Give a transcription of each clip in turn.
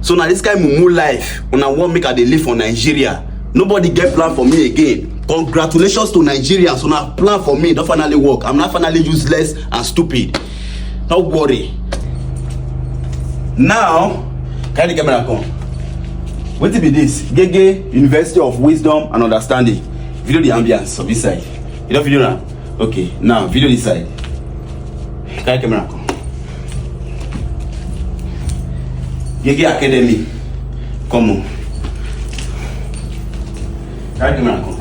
so na dis kain mumu life una wan make i dey live for nigeria nobody get plan for me again congratulations to nigerians una plan for me don finally work i'm now finally useless and stupid no worry now carry the camera come wetin be this gege university of wisdom and understanding video the ambience of inside you don video na. okay now video this side carry camera come gege academy come on carry camera come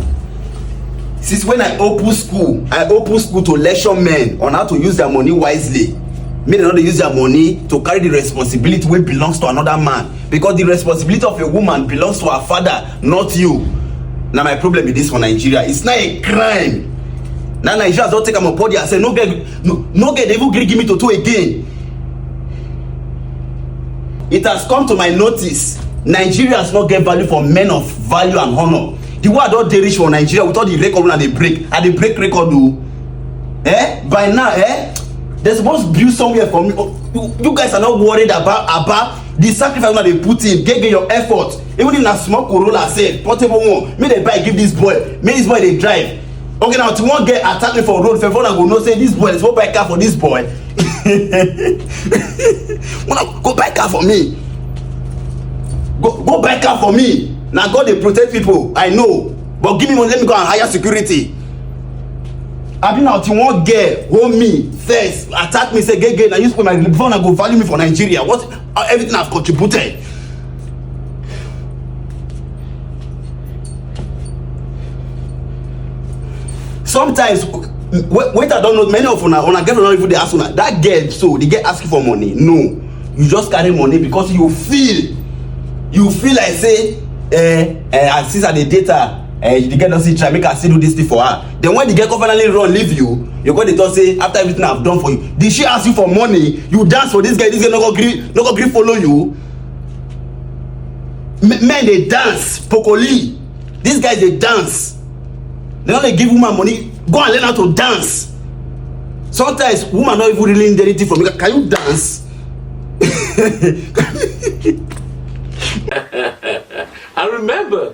since when i open school i open school to lecture men on how to use their money wisely make dem no dey use their money to carry the responsibility wey belongs to another man because the responsibility of a woman belongs to her father not you na my problem be this for nigeria it's not a crime na nigeria don take am upon their say no get no, no get even gree give me toto again it has come to my notice nigerians no get value for men of value and honour the way i don dey reach for nigeria with all the record una dey break i dey break record o eh by now eh they suppose build somewhere for me oh, you, you guys are not worried about about the sacrifice una dey put in gege your effort even if na small corolla sef portable one make dem buy give this boy make this boy dey drive okay now to one girl attack me for road fef una go know say this boy suppose buy car for this boy una go buy car for me go go buy car for me na god dey protect people i know but give me money let me go and hire security abi na the one girl hold me first attack me say gay gay na you spoil my before una go value me for nigeria what uh, everything i've contributed sometimes wait i don know many of una una get una even dey ask una that girl so dey get asking for money no you just carry money because you feel you feel like say eh eh since i dey date her eh the girl don still try make i still do this thing for her then when the girl come finally run leave you you go dey talk say after everything i have done for you did she ask you for money you dance for this girl this girl no go gree no go gree follow you men dey dance pokoli these guys dey dance they no dey give woman money go and learn how to dance sometimes woman no even really need anything from you can you dance. I remember